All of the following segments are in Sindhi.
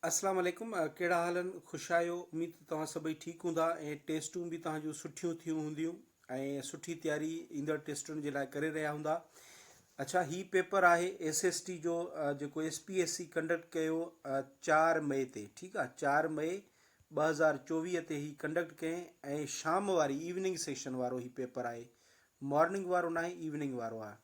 السلام عليڪم ڪهڙا حال آهن خوش آهيو اميد ته توهان سڀئي ٺيڪ هوندا ۽ ٽيسٽون به توهان جون سٺيون ٿيون هونديون ۽ سٺي تياري ايندڙ ٽيسٽن جي لاء ڪري رهيا هوندا اڇا هي پيپر آهي ايس ايس ٽي جو جيڪو S P S C conduct ڪيو چار مئي تي ٺيڪ آهي چار مئي ٻه هزار چوويهه تي هي ڪنڊڪٽ ڪيائين ۽ شام واري ايوننگ سيشن وارو هي پيپر آهي مارننگ وارو ناهي ايوننگ وارو آهي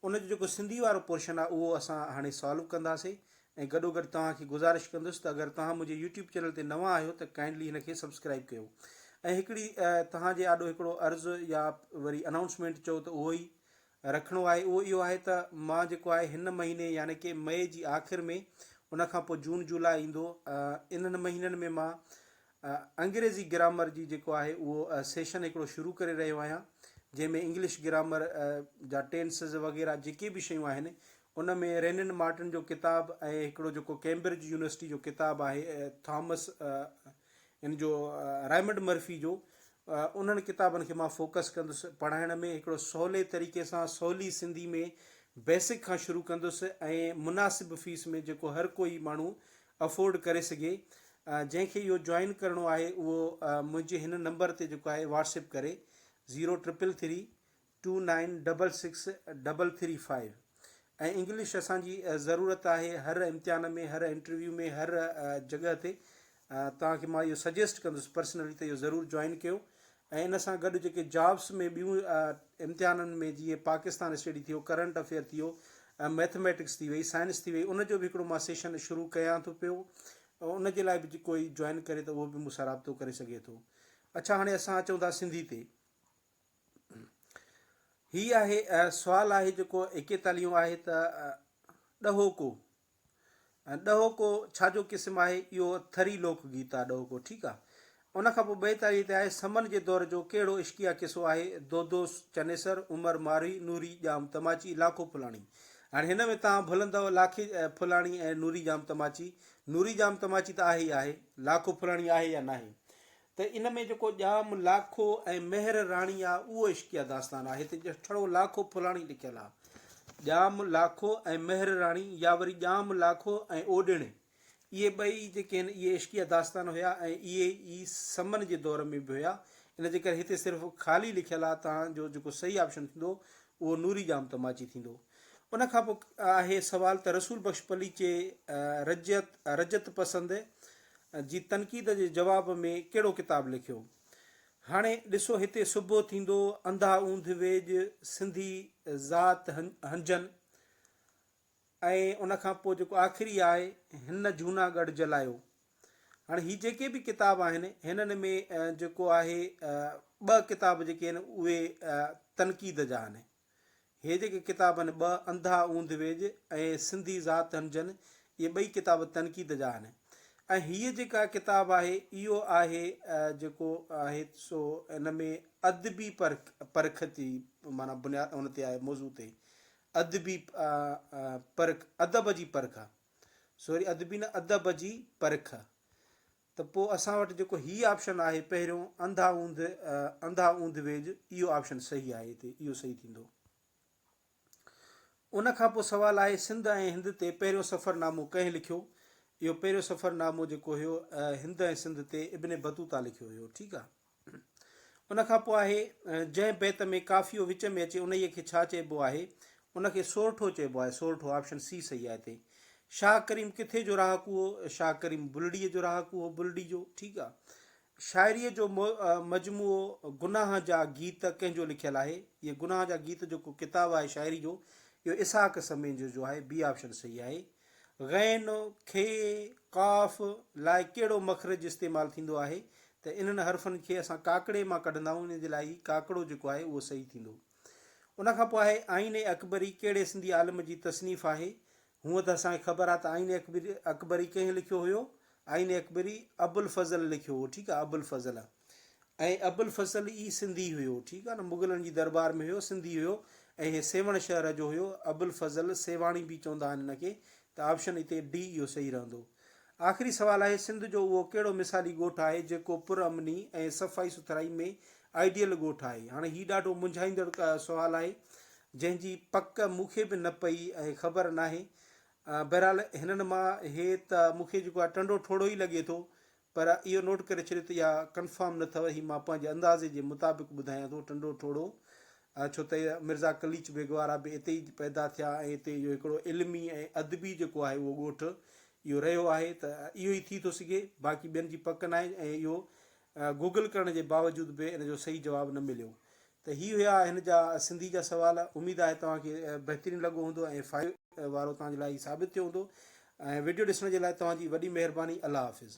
ان جو جيڪو سنڌي وارو پورشن آهي اهو اسان هاڻي سالو ڪنداسي ۽ گڏو گڏ توهان کي گذارش ڪندس ته اگر توهان منهنجي يوٽيوب چينل تي نوان آهيو ته ڪائنڊلي هن کي سبسڪرائيب ڪيو ۽ هڪڙي توهان جي آڏو هڪڙو عرض يا وري انائونسمينٽ چئو ته اهو ئي رکڻو آهي اهو اهو آهي ته مان جيڪو آهي هن مهيني يعني ڪي مئي جي آخر ۾ ان کان پوء جون جولاء ايندو انهن مهينن ۾ مان انگريزي گرامر جي جيڪو آهي اهو سيشن هڪڙو شروع ڪري رهيو آهيان جنهن ۾ انگلش گرامر جا ٽينسز وغيره جيڪي به شيون آهن ان ۾ رينن مارٽن جو ڪتاب ۽ هڪڙو جيڪو ڪيمبرج يونيورسٽي جو ڪتاب آهي ٿامس ان جو رائمنڊ مرفي جو انهن ڪتابن کي مان فوڪس ڪندس پڙهائڻ ۾ هڪڙو سولي طريقي سان سولي سنڌي ۾ بيسڪ کان شروع ڪندس ۽ مناسب فيس ۾ جيڪو هر ڪوئي ماڻهو افورڊ ڪري سگهي جنهن کي اهو جوائن ڪرڻو آهي اهو منهنجي هن نمبر تي جيڪو آهي واٽسپ ڪري zero triple three two nine double six double three five ۽ English اسان جي ضرورت آهي هر امتحان ۾ هر انٽرويو ۾ هر جڳهه تي توهان کي مان اهو سجيسٽ ڪندس پرسنلي ته اهو ضرور جوائن ڪيو ۽ ان سان گڏ جيڪي جابس ۾ ٻيون امتحانن ۾ جيئن پاڪستان اسٽڊي ٿيو ڪرنٽ افيئر ٿيو ۽ ميٿميٽڪس ٿي وئي سائنس ٿي وئي ان جو به هڪڙو مان سيشن شروع ڪيان ٿو پيو ان جي لاء به جي ڪوئي جوائن ڪري ته اهو به مون سان رابطو ڪري سگهي ٿو اڇا هاڻي اسان اچون ٿا سنڌي تي هي آهي سوال آهي جيڪو ايڪيتاليون آهي ته ڏهوڪو ڏهوڪو ڇا جو قسم آهي؟ اهو ٿري لوڪ گيت آ ڏهوڪو ٺيڪ آ. ان کان پوء ٻئي تاريء تي آهي، سمن جي دور جو ڪهڙو عشقيه قصو آهي، دودو چنيسر، عمر ماروي، نوري ڄام تماچي، لاکو ڦلاڻي. هاڻي هن ۾ توهان ڀلندؤ لاکي ڦلاڻي ۽ نوري ڄام تماچي. نوري ڄام تماچي ته آهي ئي آهي. لاکو ڦلاڻي آهي يا ناهي. ته ان ۾ جيڪو ڄام لاکو ۽ مهر راڻي آ اهو عشقيه داستان آهي ته جيئن ٺڙو لاکو ڦلاڻي لکيل آ. ڄام لاکو ۽ مهر راڻي يا وري ڄام لاکو ۽ اوڏيڻي اهي ٻئي جيڪي هن اهي عشقيه داستان هيا ۽ اهي ئي سمن جي دور ۾ به هيا ان جي ڪري هتي صرف خالي لکيل آ تان جو جيڪو صحيح آپشن ٿيندو اهو نوري ڄام تماچي ٿيندو. ان کان پوء آهي سوال ته رسول بخش پليچي رجعت، رجعت پسند، جي تنقيد جي جواب ۾ ڪهڙو ڪتاب لکيو؟ هاڻي ڏسو هتي صبح ٿيندو، انڌا اوندھ ويڄ، سنڌي ذات هنجن ۽ ان کان پوء جيڪو آخري آهي هن جهونا ڳڙھ جلايو. هاڻي هي جيڪي به ڪتاب آهن هنن ۾ جيڪو آهي ٻه ڪتاب جيڪي آهن اهي تنقيد جا آهن. هي جيڪي ڪتاب آهن ٻه انڌا اوندھ ويڄ ۽ سنڌي ذات هن جن اهي ٻئي ڪتاب تنقيد جا آهن ۽ هيء جيڪا ڪتاب آهي اهو آهي جيڪو آهي سو ان ۾ ادبي پرک جي معنيٰ بنياد ان تي آهي موضوع تي ادبي پرک ادب جي پرک سوري ادبي نه ادب جي پرک ته پوء اسان وٽ جيڪو هي آپشن آهي پهريون انڌا اوندھ انڌا اوندھ ويڄ اهو آپشن صحيح آهي هتي اهو صحيح ٿيندو. ان کان پوء سوال آهي سنڌ ۽ هند تي پهريون سفر نامو ڪنهن لکيو؟ اهو پهريون سفر نامو جيڪو هيو هند ۽ سنڌ تي ابن بطوطا لکيو هيو ٺيڪ آ. ان کان پوء آهي، جنهن بيت ۾ قافيو وچ ۾ اچي انهيء کي ڇا چئبو آهي؟ ان کي سورٺو چئبو آهي، سورٺو آپشن سي صحيح آهي هتي. شاهه ڪريم ڪٿي جو رهاڪو هو؟ شاهه ڪريم بلڙيء جو رهاڪو هو، بلڙي جو، ٺيڪ آ. شاعريء جو مجموعو گناهه جا گيت ڪنهن جو لکيل آهي؟ هيء گناهه جا گيت جو ڪو ڪتاب آهي شاعري جو، اهو اسحاق سميجو جو آهي، بي آپشن صحيح آهي. غين، کي، قاف لاء ڪهڙو مخرج استعمال ٿيندو آهي ته انهن حرفن کي اسان ڪاڪڙي مان ڪڍندائون ان جي لاء هي ڪاڪڙو جيڪو آهي اهو صحيح ٿيندو. ان کان پوء آهي آئين اڪبري ڪهڙي سنڌي عالم جي تصنيف آهي؟ هونء ته اسان کي خبر آهي ته آئين اڪبري ڪنهن لکيو هيو آئين اڪبري ابوالفضل لکيو هو ٺيڪ آهي ابوالفضل ۽ ابوالفصل ئي سنڌي هيو ٺيڪ آهي نه مغلن جي دربار ۾ هيو سنڌي هيو ۽ هي سيوهڻ شهر جو هيو ابوالفضل سيوهاڻي به چوندا آهن هن کي ته آپشن هتي ڊي اهو صحيح رهندو آخري سوال آهي سنڌ جو اهو ڪهڙو مثالي ڳوٺ آهي جيڪو پر امني ۽ صفائي سٿرائي ۾ آئيڊيل ڳوٺ آهي هاڻي هي ڏاڍو منجهائيندڙ سوال آهي جنهن جي پڪ مون کي به نه پئي ۽ خبر ناهي بهرحال هنن مان هي ته مون کي جيڪو آهي ٽنڊو ٺوڙهو ئي لڳي ٿو پر اهو نوٽ ڪري ڇڏيو ته اها ڪنفرم نه اٿئو هي مان پنهنجي اندازي جي مطابق ٻڌايان ٿو ٽنڊو ٺوڙهو ڇو ته مرزا قليچ بيگ وارا به اتي ئي پيدا ٿيا ۽ اتي جو هڪڙو علمي ۽ ادبي جيڪو آهي اهو ڳوٺ اهو رهيو آهي ته اهو ئي ٿي ٿو سگهي باقي ٻين جي پڪ ناهي ۽ اهو گوگل ڪرڻ جي باوجود به ان جو صحيح جواب نه مليو ته هي هيا هن جا سنڌي جا سوال اميد آهي توهان کي بهترين لڳو هوندو ۽ فائدي وارو توهان جي لاء هي ثابت ٿيو هوندو ۽ وڊيو ڏسڻ جي لاء توهان جي وڏي مهرباني الله حافظ.